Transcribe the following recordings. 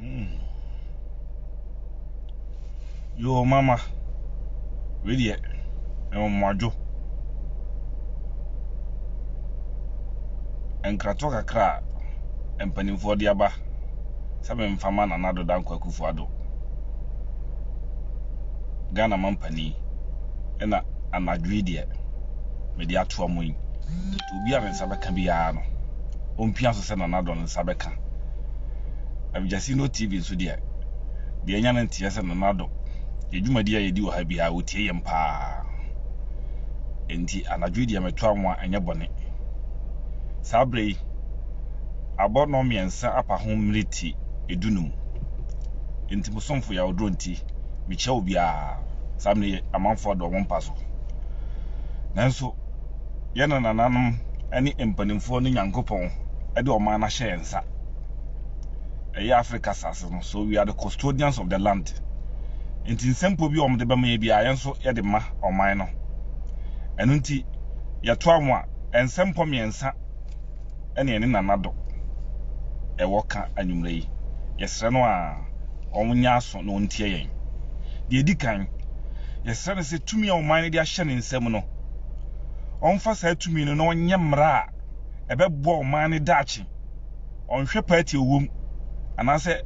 Hmm. Yoo mama. Wei deɛ ɛwɔ mmoadwo. Nkratoɔ kakra a mpanimfoɔ de aba sɛ memfa ma Nana Addo Dankwa Akufo Addo. Ghana mampanin ɛna anadwo yi deɛ mede atoa mo yi. Obi a ne nsa bɛka biara no, ɔmpia so sɛ Nana Addo ne nsa bɛka. Abjasino TV nso deɛ, deɛ ɛnya no nteɛ sɛ Nana Addo, yɛn dwumadi a yɛdi wɔ ha biara wɔtie yɛn paa. Enti anadwo yi deɛ meto anwa ɛnyɛ bɔne. Saa berɛ yi, abɔ nnɔn mmiɛnsa apa ho mmereti edunum. Enti mo somfo yɛ ahodorɔ nti, mekyia obiara. Saa mmerɛ yi amanfoɔ adɔ wɔn mpa so. Nanso, yɛn nanananom ne mpanimfoɔ no Nyankopɔn de ɔman no ahyɛ yɛn nsa. Ɛyɛ Africa asase no, so we are the custodians of the land. Nti nsɛmpo bi a wɔde bɛma yɛ biara yɛn nso yɛde ma ɔman no. Ɛno nti yɛtoa mo a, nsɛmpɔ mmiɛnsa ɛne ɛne Nana Do ɛwɔ ka anwummerɛ yi. Yɛsrɛ no a ɔnyɛ aso na ɔntie yɛn. Deɛ ɛdi kan, yɛsrɛ no sɛ tumi a ɔman no de ahyɛ ne nsa mu no, ɔmfa saa tumi no na ɔnyɛ mmara a ɛbɛboa ɔman no daakye. Ɔnhwɛ party a ɔwɔ mu, anaasɛ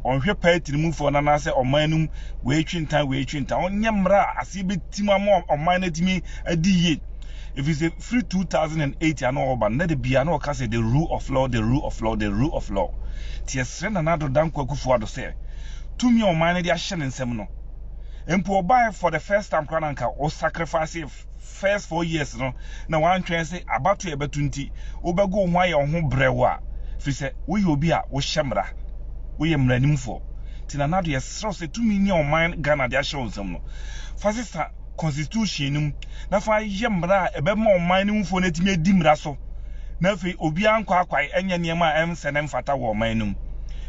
ɔnhwɛ party no mufoɔ no anaasɛ ɔman no mu wei twe ntan wei twe ntan. Ɔnyɛ mmara a aseɛ bɛtim ama ɔman no atumi adi yie. Ɛfiri sɛ, Firi two thousand and eight a na ɔreba no, na da biara na ɔka sɛ the rule of law, the rule of law, the rule of law. Nti yɛsrɛ Nana Addo Dankwa Akufo-Addo sɛ, tumi a ɔman no de ahyɛ ne nsam no, mpo ɔbaeɛ for the first time koraa na anka wo sacrifice first four years no na wantwɛn se abatoɔ a ɛbɛto nti wobɛgo wo ho ayɛ wo ho brɛoo a, firi sɛ woyɛ obi a wohyɛ mmara, woyɛ mmaranim foɔ. Nti Nana Addo yɛsrɛ wo sɛ tumi ni a ɔman Ghana de ahyɛ wo nsam no, fa sesa. constitution no mu na fa yɛ mmara a ɛbɛma ɔman no mufo no atumi adi mmara so na afei obiara nkwaakwae nyɛ nneɛma a ɛnsɛ na ɛmfata wɔ ɔman no mu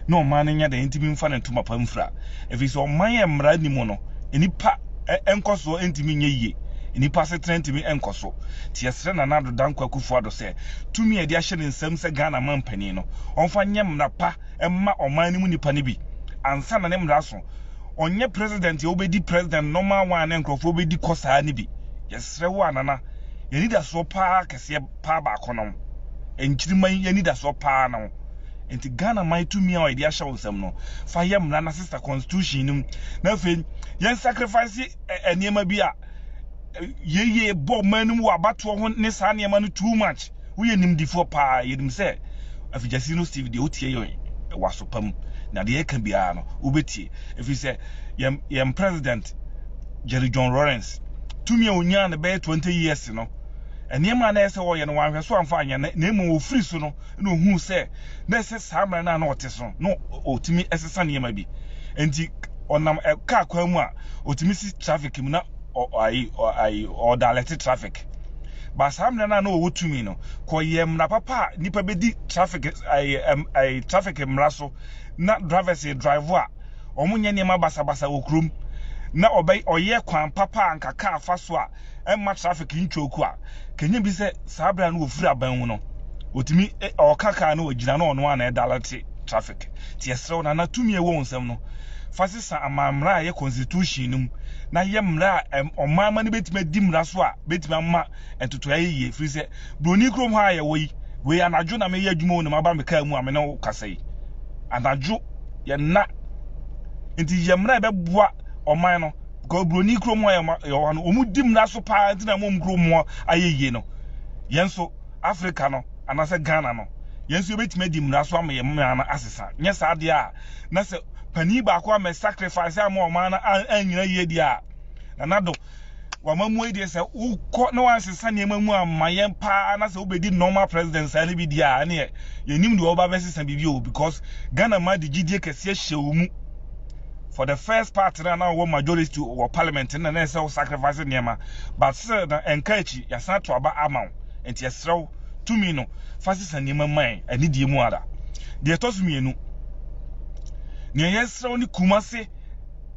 na ɔman no nyɛ dɛn ntumi mfa ne ntoma pa mfura ɛfiri sɛ ɔman a mmara nni mu no nnipa nkɔsoɔ ntumi nyɛ yie nnipa asetena ntumi nkɔ so nti yɛsrɛ Nana Addo Dankwa Akufo-Addo sɛ tumi a yɛde ahyɛ ne nsam sɛ Ghana manpanin no ɔmfa nyɛ mmara pa mma ɔman no mu nnipa no bi ansa na ne mmara so ɔnyɛ president a wobɛdi president normal one ne nkurɔfoɔ bɛdi kɔ saa no bi. Yɛsrɛ wo a Nana, yɛn anidasoɔ paa kɛseɛ paa baako ne wo. Nkyirimma yi yɛn anidasoɔ paa ne wo. Nti Ghana man tumi a yɛde ahyɛ wo nsam no, fa yɛ mmara na sesa constitution no mu. Na afei yɛn sacrifice nneɛma bi a yei yɛ bɔ ɔman no mu wɔ abatoɔ ho ne saa nneɛma no too much. Woyɛ nimdefoɔ paa, yɛnim sɛ afigyasini no Steve deɛ wotie yɛn wɔ aso pa mu, na deɛ yɛka biara no wobɛtie, ɛfiri sɛ yɛn yɛn president Jerry John Rawlings tumi a ɔnyaa no bɛyɛ 20 years no, nneɛma a na ɛyɛ sɛ ɔyɛ no wanhwɛ so amfa anyɛ na mmom ɔfiri so no na ɔhuu sɛ na ɛsɛ saa mmerɛ no a na ɔte so no na ɔtumi sesa nneɛma bi nti ɔnam kaa kwan mu a ɔtumi si traffic mu na ɔ, ayi, ɔ, ayi, ɔda alɛte traffic. But saa mmena no a na wɔwɔ tumi no kɔyɛ mmena papa a nipa bɛdi traffic ɛɛ traffic mmena so na drivers drive a wɔn nyɛ nneɛma basabasa wɔ kurom na ɔbɛ ɔyɛ kwan papa a nka kaa fa so a ɛmma traffic ntwɔku a kɛnyɛ bi sɛ saa abira no wɔfiri aban mu no wɔtumi ɔka kaa no wɔgyina no ɔno a na ɛdalɛte traffic te ɛserɛw nana tumi ɛwɔ wɔn nsam no fa Sa amanmmara a ɛyɛ kɔnsitiuhyin no mu na yɛ mmara a ɔmanmma no bɛtumi adi mmara so a bɛtumi ama ntotoe ayɛ yie ɛfiri sɛ buroni kurom ha a yɛwɔ yi, wei anadwo na meyɛ adwuma o na maba me kaa mu a me ne wo kasa yi. Anadwo, yɛ nna. Nti yɛ mmara a ɛbɛboa ɔman no because buroni kurom ha a yɛwɔ ha no, wɔdi mmara so pa ara nti na ama wɔn kurom hɔ ayɛ yie no. Yɛn nso, Africa no anaasɛ Ghana no, yɛn nso yɛbɛtumi adi mmara so ama yɛn mmaa no asesa. Nyɛ saa deɛ a, na sɛ panin baako ammɛ sacrifice a ama ɔman no annyina yie deɛ a, Nana Addo, w'amammuo yi deɛ sɛ wokɔ na woansesa nneɛma mu amma yɛn pa ara na sɛ wobɛdi normal president saa no bi deɛ a, ɛneɛ yɛnnim deɛ wɔba bɛsesa biribi o because Ghana man de gyidie kɛseɛ hyɛ wo mu. For the first part no a na wɔwɔ majority wɔ parliament no na na ɛsɛ sɛ wo sacrifice nneɛma but still na ɛnka akyi, yɛasan ato aba ama wo nti yɛsrɛ wo tumi no fa sesa nneɛma ma yɛn anidie mu ara. Deɛ ɛtɔ so mmienu, nea yɛsrɛ wo ne Kumase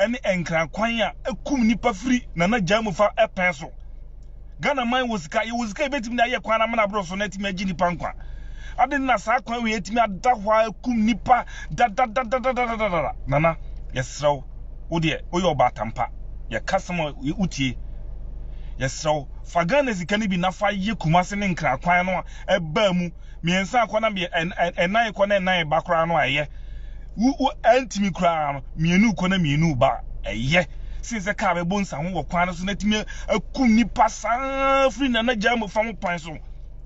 ne Nkran kwan a ɛkum nnipa firi Nana Gyaa mu fa pɛn so. Ghana man wɔ sika, yɛwɔ sika yɛbɛtumi de ayɛ kwan no amena aboro so na atumi agye nnipa nkwa. Adɛn na saa kwan wei atumi ada hɔ a ɛkum nnipa dadadadadadadada? Nana, yɛsrɛ wo, wo deɛ woyɛ ɔbaatampa, yɛka sɛm a wotie, yɛsrɛ wo. Fa Ghana sika no bi na fa yɛ Kumasi ne Nkran kwan no a ɛba mu mmiɛnsa rekɔ na ɛnan rekɔ na ɛnan reba koraa no a ɛyɛ. Wo wo antumi koraa no, mmienu rekɔ na mmienu reba a ɛyɛ sen sɛ kaa bɛbɔ nsaho wɔ kwan no so na atumi akum nnipa saa firi Nana Gyamo fa ho kwan so.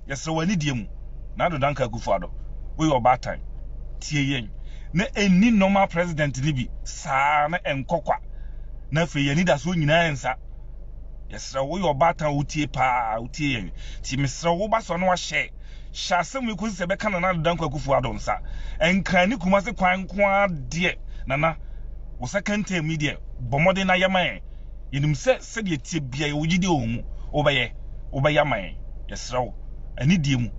Yɛsrɛ wo anidie mu na Addo Dankwa Akufo-Addo, woyɛ ɔbaatan, tie yɛn na ɛnni normal president no bi saa na ɛnkɔ kwa na afei yɛn anidasoɔ nyinaa nsa Yɛsrɛ wo, woyɛ ɔbaatan a wutie paa, wutie yɛn. Nti mesrɛ wo, wo ba so na wahyɛ. Hyɛ asɛm wei kosi sɛ ɛbɛka Nana Adedankwa Akufo-Addo nsa. Nkran ne Kumasi kwan nko ara deɛ, Nana, wo second term yi deɛ, bɔ mmɔden na yɛ ma yɛn. Yɛnim sɛ sɛdeɛ ɛteɛ biara yɛwɔ gyidie wɔ wo mu, wobɛyɛ, wobɛyɛ ama yɛn. Yɛsrɛ wo, anidie mu,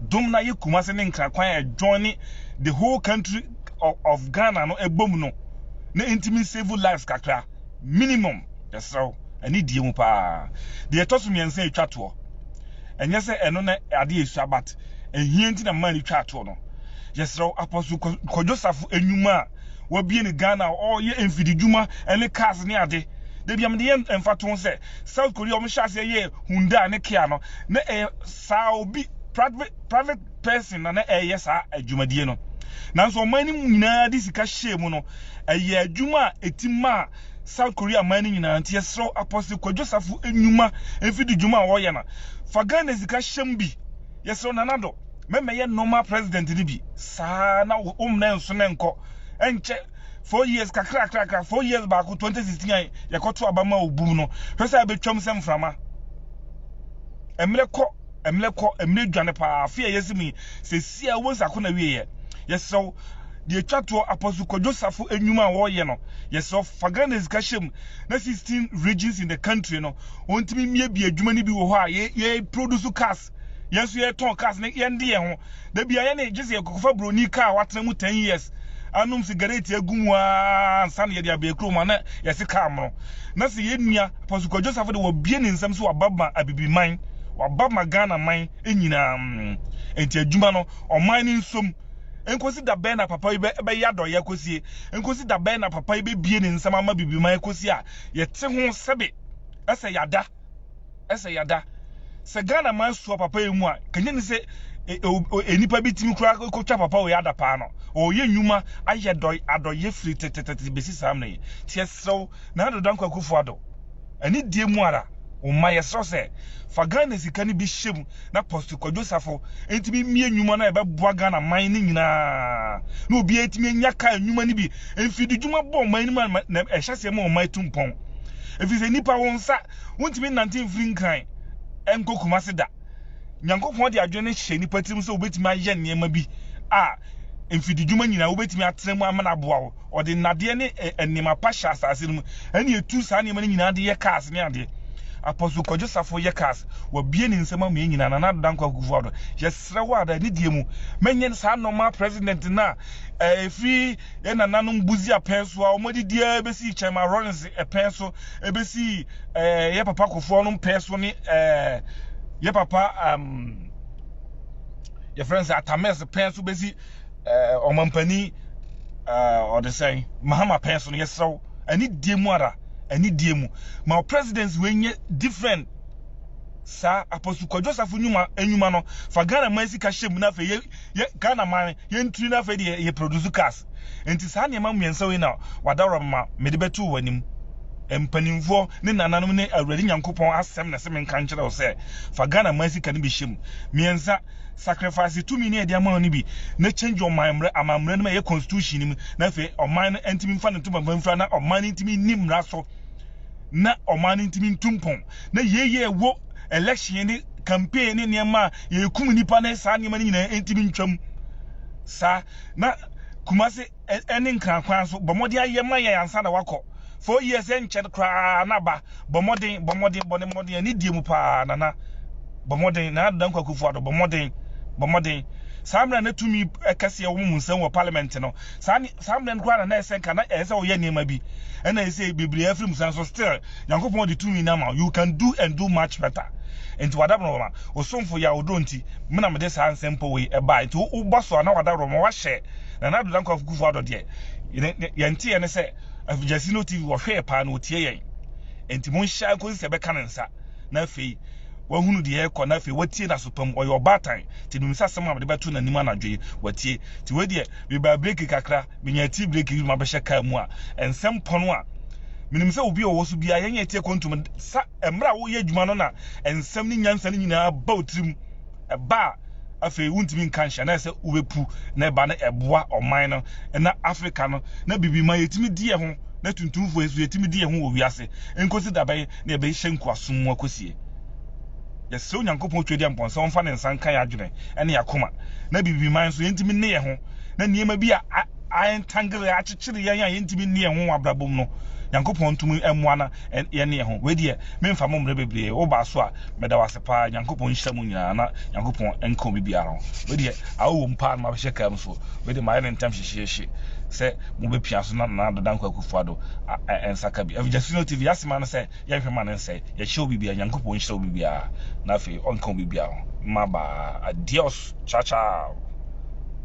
dom na yɛ Kumasi ne Nkran kwan a ɛjoine the whole country of Ghana no bom no, na ɛntumi nsave lives kakra, minimum. Yɛsrɛ wo, ɛne die mu paa. Deɛ ɛtɔ so mmiɛnsa a ɛtwa toɔ, ɛnyɛ sɛ ɛno ne adeɛ a ɛsua but ɛhia nti na mmaa no twaa toɔ no. Yɛsrɛ wo, Apostle Kwadwo Safo nnwuma a wabue no Ghana a ɔreyɛ mfididwuma ne cars ne ade, da biara mede yɛ mfatoho sɛ South Korea a wɔhyɛɛ aseɛ yɛɛ Hyundai ne Kia no, na ɛyɛ saa obi, private person na na ɛreyɛ saa adwumadie no. Nanso ɔman no mu nyinaa de sika hyɛɛ mu no, ɛyɛɛ adwuma a ɛtim maa South Korea man no nyinaa nti yɛsrɛ wo Apostle Kwadwo Safo nnwuma mfidi dwuma a wɔyɛ no fa Ghana sika hyɛm bi yɛsrɛ wo Nana Addo mɛmɛyɛ normal president no bi saa na wo mmrɛ nso na nkɔ nkyɛ four years kakrakrakra four years baako 2016 a yɛkɔto aba ma wo bum no hwɛ sɛ abɛtwam sɛ mframa mmerɛ kɔ mmerɛ kɔ mmerɛ dwane paa afe a yɛsi mu yi sɛ si a wobɛhu sɛ ako na wieɛ yɛsrɛ wo Deɛ ɛtwa toɔ, Apostle Kwadwo Safo nnwuma a ɔreyɛ no, yɛsrɛ wo fa Ghana sika hyɛ mu na sixteen regions in the country no wɔntumi mmiabia adwuma no bi wɔ hɔ a yɛ yɛ produce cars, yɛn nso yɛtɔn cars na yɛn de yɛn ho. Da biara yɛne gye sɛ yɛkɔkɔfa buroni car a watena mu ten years anom sigareti agu mu ara ansa na yɛde abɛn kurom a na yɛse car mono. Na sɛ yɛn nua Apostle Kwadwo Safo de wabue ne nsam sɛ waba ma Abibiman, waba ma Ghana man nyinaa, enti adwuma no ɔman no nso mu. Enkosi da bɛn na papa yi bɛyɛ adɔeyɛ akosie? Enkosi da bɛn na papa yi bɛbue ne nsam ama bibiman akosi a yɛte ho sɛbe ɛsɛ yada, ɛsɛ yada? Sɛ Ghana man sua papa yi mu a, kɛnyɛ ni sɛ enipa bi timi kura kotwa papa wei adapaa no. Ɔɔyɛ nyuma, ayɛ dɔe, adɔeyɛ firi tɛtɛtɛtɛ besi saa mmerɛ yi. Nti yɛsrɛw Nado Dankwa Akufo Addo, anidie mu ara, wo mma, yɛsrɛw sɛ fa Ghana sika no bi hyɛ mu na Apostle Kwadwo Safo ntumi mmie nnwuma no a ɛbɛboa Ghana man no nyinaa na obiara atumi anya kaa nnwuma no bi. Mfididwuma bɔ ɔman no mu a na ɛhyɛ aseɛ ma ɔman tu mpɔn ɛfiri sɛ nnipa wo nsa wontumi nnante mfiri Nkran nkɔ Kumase da. Nyankopɔn de adwene hyɛ nnipa tirim sɛ wobɛtumi ayɛ nneɛma bi a mfididwuma nyinaa wobɛtumi atena mu ama no aboa wo. Ɔde nnadeɛ ne nneɛma pa hyɛ asase no mu, ɛnna ɛtu saa nneɛma no nyinaa de yɛ cars ne adeɛ. Apostle Kwadwo Safo yɛ cars. Wabue ne nsam ama yɛn nyinaa. Nana Ado Dankwa Akuffo Addo, yɛsrɛ wo ara, anidie mu, mɛnyɛ saa nnoɔma President no a ɛfiri yɛn nananom Busia pɛn so a wɔde di ara bɛsi Kyerema Rawlings pɛn so bɛsi yɛn papa Kofi Anum pɛn so ne yɛn papa yɛfrɛ no sɛ Atamers pɛn so bɛsi Eh, ɔmampanin eh, ɔde sɛn mahama pɛn so no yɛsrɛ wo anidie mu ara anidie mu ma presidency wei nyɛ different saa apostle kwadwo safo nnwuma nnwuma no fa ghana man sika hyɛ mu na afei yɛ yɛ ghana man yɛntiri na afei deɛ yɛ produce cars nti saa nneɛma mmiɛnsa wei na wadawura ma mede bɛto wɔ anim mpanimfoɔ ne nananom ne awurade nyankopɔn asɛm na ɛsɛ menka nkyerɛ wo sɛ fa ghana man sika no bi hyɛ mu mmiɛnsa Sacrifice tumi no a yɛde ama no no bi ne change ɔman mmara, amammerɛ no ma ɛyɛ constitution no mu, na afei ɔman no ntumi mfa ne ntomaban mfira na ɔman no ntumi nni mmara so na ɔman no ntumi ntu mpɔn. Na yei yɛ ɛwɔ election ne campaign ne nneɛma a yɛkum nnipa ne saa nneɛma no nyinaa ntumi ntwam saa. Na Kumasi ne nkran kwan nso, bɔ mmɔden ara yɛ ma yɛn ansa na wakɔ. Four years ɛnkyɛr koraa na ba, bɔ mmɔden, bɔ mmɔden, bɔ ne mmɔden, anidie mu paa, Nana, bɔ mmɔden, Nana Dankwa Akufo-Addo, bɔ mmɔden, bɔ mmɔden. Saa mmerɛ a na tumi kɛseɛ wɔ mo nsam wɔ Parliament no, saa ne, saa mmerɛ no koraa na na ɛsɛ nka na ɛsɛ sɛ woyɛ nneɛma bi, ɛna ɛsei bebree afiri mu sa nso, still Nyankopɔn de tumi no ama wo, you can do and do much better. Nti w'adaborɔma, wo somfo Yaw Oduro nti, me na mede saa nsɛmpɔ wei baeɛ, nti wo, wo bɔ so a na w'adaborɔma, woahyɛ, Nana Ado Dankwa Kufuor Addo deɛ yɛn nteɛ ne sɛ Afigyasino TV wɔhwɛɛ paa na wɔtie yɛn nti mo nhyɛ nkɔsi sɛ bɛka ne nsa na afei wahunu deɛ ɛkɔ na afei watie n'aso pam ɔyɛ ɔbaatan nti nim sɛ asɛm a mede bɛto n'anim anadwo yi watie nti wei deɛ mebaa breki kakra menya tii breki bi ma bɛhyɛ kaa mu a nsɛm pɔno a menim sɛ obi ɔwɔ so biara yɛnyɛ tie kɔntum sa mmerɛ a woyɛ adwuma no na nsɛm ne nyansa no nyinaa ba wo tirim Ɛba a, afei wontumi nka nhyɛ, na ɛsɛ wobɛpu, na ɛba no ɛboa ɔman no, na Africa no, na biribi ma yɛtumi di ɛho, na tuntumfoɔ yi nso yɛtumi di ɛho wɔ wiase, nkosi da bɛn na yɛbɛhyɛ nkoasom mu akosie? Yɛsrɛ Onyankopɔn Otwadiampɔn sɛ ɔmfa ne nsa nka yɛn adwene ne yɛn akoma, na biribi ma yɛn nso yɛntumi nne yɛn ho, na nneɛma bi a a entangle yɛn, akyekyere yɛn a yɛntumi nne yɛn ho wɔ abrabɔ mu no, Nyankopɔn ntumi mmoa na yɛnne yɛn ho. Wei deɛ, memfa mo mmerɛ bebree, wobaa so a, meda wo ase. paa nyankopɔn nhyira mu nyinaa na nyankopɔn nka obi biara ho wei deɛ awo wɔ mu paa no mabɛhyɛ kaa mu so wei deɛ mayɛ no ntam hyehyeehye sɛ mobɛpia so na na dada nkɔ akufo ado ɛnsa ka bi ɛfiri gyasi no tv yɛasema no sɛ yɛnhwɛ ma no nsɛ yɛhyɛ obi biara nyankopɔn nhyira obi biara na afei ɔnka obi biara ho mmabaa adios ciao ciao